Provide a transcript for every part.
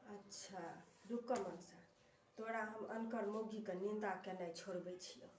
अच्छा रुकऽ मनसा तोरा हम अनकर मौगीके निन्दा केनाइ छोड़बै छियौ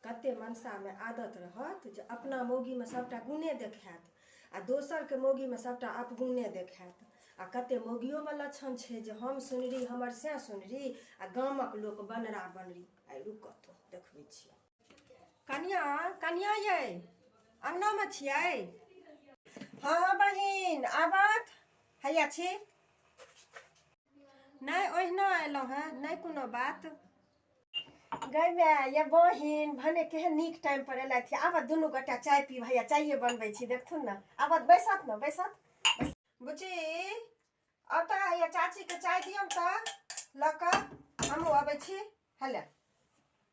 कते मनसामे आदत रहत जे अपना मौगीमे सभटा गुणे देखायत आ दोसरके मौगीमे सभटा अपगुणे देखायत आ कते मौगियोमे लक्षण छै जे हम सुनरी हमर सैह सुनरी आ गामक लोक बनरा बनरी आइ रुकऽ तो देखबै छियै कनिया कनिया ये अंगना में छियै हाँ हाँ बहिन आबत हैया छी नहीं ओहिना एलहुँ हैं नहीं कोनो बात गई मैं ये बहिन भने के नीक टाइम पर एल थी आबत दुनू गोटा चाय पी भैया चाय बनबे छी देखथुन ना आबत बैसत ना बैसत बुची अब तो ये चाची के चाय दियम तो लक हम अबे छी हेले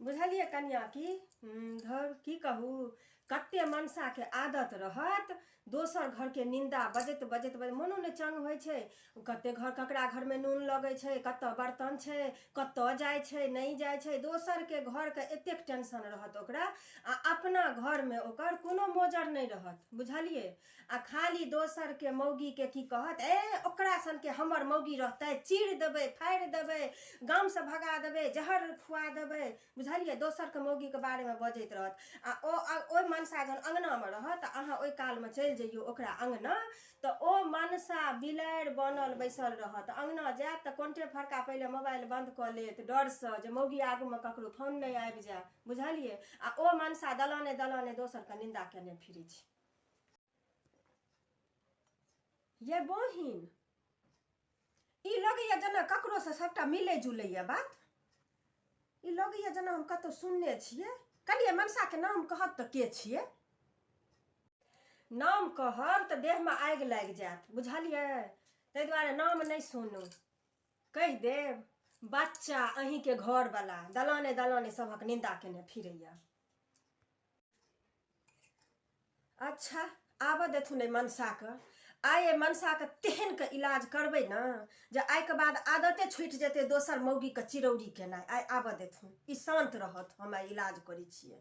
बुझलियै कनिया की धर की कहू कते मनसा के आदत रहत दोसर घर के निंदा बजैत बजैत बजैत मनो ने चंग होइ छै कते घर ककरा घर में नून लगै छै कतऽ बर्तन छै कतऽ जाइ छै नहि जाइ छै दोसर के घर के एतेक टेंशन रहत ओकरा आ अपना घर में ओकर कोनो मोजर नहि रहत बुझलियै आ खाली दोसर के मौगी के की कहत ए ओकरा सन के हमर मौगी रहते चीर देबे फाड़ि देबे गाम से भगा देबे जहर खुआ देबे बुझलियै दोसर के मौगी के बारे में बजैत रहत आ ओ ओहि मनसा जहन अंगना में रहत तऽ अहाँ ओहि काल में चलि जइयो ओकरा अंगना तऽ ओ मनसा बिलाड़ि बनल बैसल रहत अंगना जायत तऽ कोन्टे फड़का पहिले मोबाइल बंद कऽ लेत डर से जे मौगी आगू में ककरो फोन नहि आबि जाय बुझलियै आ ओ मनसा दलाने दलाने दोसर के निंदा केने फिरै छै ये बहिन ई लगैया जेना ककरोसँ सभटा मिलै जुलैया बात ई लगैया जेना हम कतहु सुनने छियै कनिए मनसाके नाम कहब तऽ के छियै नाम कहब तऽ देहमे आगि लागि जायत बुझलियै ताहि दुआरे नाम नहि सुनू कहि देब बच्चा अहींके घरवला दलाने दलाने सभक निन्दा केने फिरैया अच्छा आबऽ देथुन एहि मनसाके आइ एहि मनसाके तेहनके इलाज करबै ने जे आइके बाद आदते छुटि जेतै दोसर मौगीके चिरौरी केनाइ आइ आबऽ देथुन ई शान्त रहत हम आइ इलाज करै छियै